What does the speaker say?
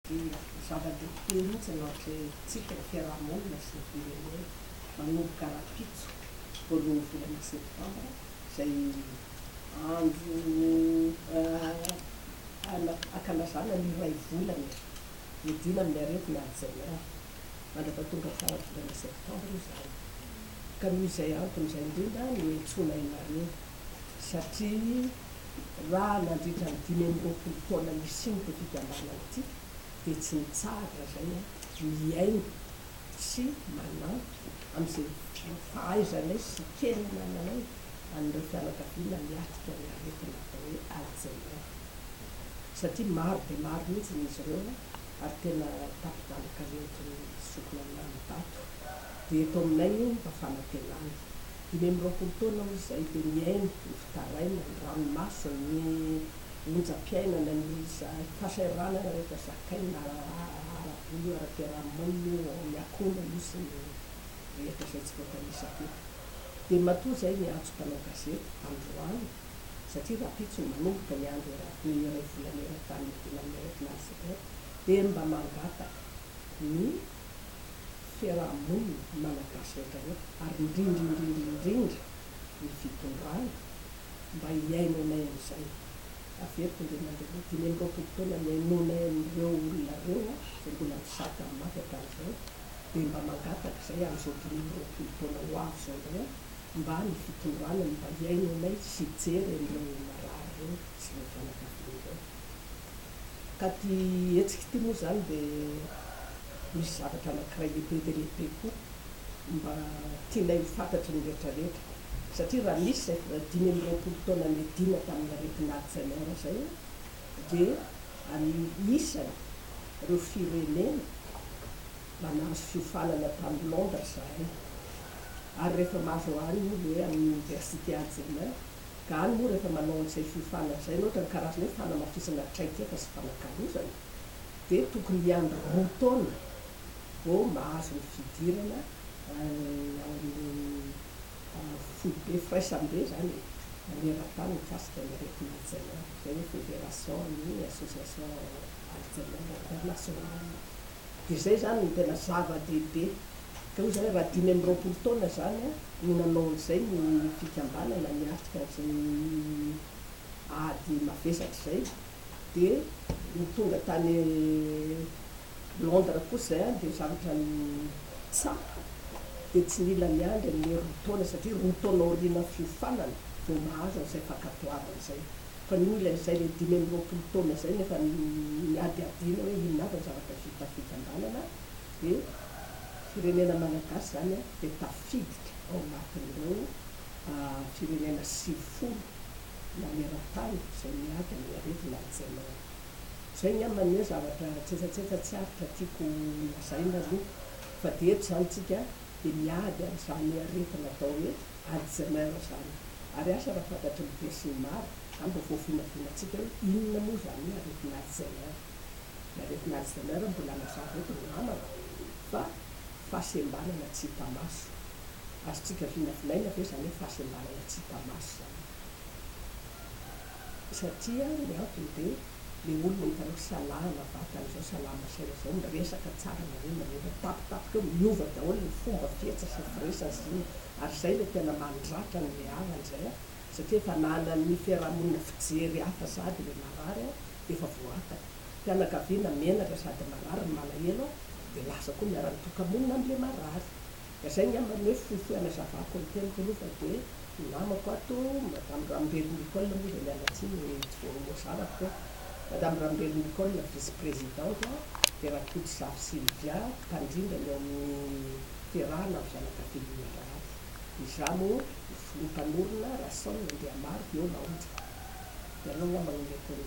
Dia zava-dehibe mihitsy ny ankehitritsika ny fiaraha-monina sy ny firenena manomboka rahampitso voalohan'ny volana septambra izay andro ankalazana ny iray volana iadiana amin'ny aretina Alzheimer. Mandraka tonga faran'ny volana septambra izany ka noho izay antony izay indrindra no iantsoana ianareo. satria raha nandritra ny dimy amby roapolo taona nisian'ity fikambanana ity dia tsy nitsahatra izay mihaino sy manampy amin'izay fahaizanay sy kely anananay an'ireo fianakaviana miatrika ny aretina atao hoe Alzheimer satria maro dia maro mihitsy izy ireo ary tena tapi-dalaka nentin'ny zokiny aminahy ny bato. dia eto aminay io mba fanantenana. Dimy amby roapolo taona hoy izay dia mihaino ny fitarainana, ny ranomasony, ny onjam-piainana, ny fahasahiranana rehetra zakaina ara-bola, ara-piaraha-monina io ao amin'ny akona io sy ny rehetra izay tsy voatanisa teto. Dia matoa izay ny antso mpanao gazety androany satria rahampitso no manomboka ny andro eran-tany iray volana eran-tany iadiana amin'ny aretin'Alzheimer dia mba mangataka ny fiaraha-monina malagasy rehetra rehetra ary indrindra indrindra indrindra ny fitondrana mba hihainoanay an'izay. Averiko indray mandeha hoe dimy amby roapolo taona nihainoanay an'ireo olona ireo izay mbola mizaka ny maty hatramin'izao dia mba mangataka izay amin'izao dimy amby roapolo taona ho avy izao indray aho mba ny fitondrana ny mba hihaino anay sy hijery an'ireo marary ireo sy ireo fianakaviana ireo. Ka ity hetsika ity moa izany dia misy zavatra anankiray lehibe dia lehibe koa mba tianay ho fantatry ny rehetra rehetra, satria raha nisy izay vao dimy amby roapolo taona niadiana tamin'ny aretina Alzheimer izay dia any isany ireo firenena mba nahazo fiofanana tany Londres izahay ary rehefa mahazo any ny hoe amin'ny Université Alzheimer Galy moa rehefa manao an'izay fiofana izay ianao ohatran'ny karazana hoe fanamafisana traikefa sy fanakalozana dia tokony hiandry roa taona vao mahazo ny fidirana ao amin'ny foibe firaisambe izany e, maneran-tany mikasika ny aretina Alzheimer, izay hoe Fédération ny Association Alzheimer Internationale. Dia izay izany no tena zava-dehibe. Dia hoy izy hoe raha dimy amby roapolo taona izany no nanao an'izay ny fikambanana niatrika an'izay ady mavesatra izay, dia ny tonga tany Londres kosa izay dia zavatra tsapa, dia tsy nila niandry an'ilay roa taona satria roa taona aorianan'ny fiofanana vao mahazo an'izay fankatoavana izay. fa noho ilay izay ilay dimy amby roapolo taona izay no efa niadiadiana hoe inona avy ny zavatra vita fikambanana dia firenena malagasy izany dia tafiditra ao anatin'ireo firenena sivifolo maneran-tany izay miady amin'ny aretina Alzheimer. Izay ny amin ny hoe zavatra tsetsatsetsa tsy aritra tiako lazaina aloha fa dia eto izany tsika dia miady amin'izany aretina atao hoe. Ary tsy main zany. Ary asa raha fantatry ny be sy ny maro, hany vao voavinavinatsika hoe inona moa zany hoe aretin'Alzheimer. Ny aretin'Alzheimer mbola nazava eto ry namana fa fahasembanana tsy hita maso. Azontsika vinavinaina ve zany hoe fahasembanana tsy hita maso zany? Satria ny antony dia le olona hitanao salama vatana izao salama saina izao miresaka tsara aminareo na rehefa mitapitapika eo miova daholo ny fomba fihetsiny sy ny firesany sy inona ary izay ilay tena mandratra ny reharany izay an satria efa ananan'ny fiarahamonina fijery hafa sady ilay marary an dia efa voataka fianakaviana menatra sady marary ny malahelo an dia lasa koa ny ara-tokamonina an'ilay marary Ka zay ngamba ny hoe fohifohy anazavako ny teniko aloha fa dia ny namako ato Madame Rambero Nicole moa izay miala tsiny hoe tsy voazanako koa Madame Rambero Nicole vice présidente dia Rakotozafi Sylvia mpandrindra ny ao amin'ny fiarahana amin'ny fianakavian'ny marary dia izaho moa ny filoha mpanorina Rason Andriamaro dia eo Laonja dia ireo ngamba no omeko ny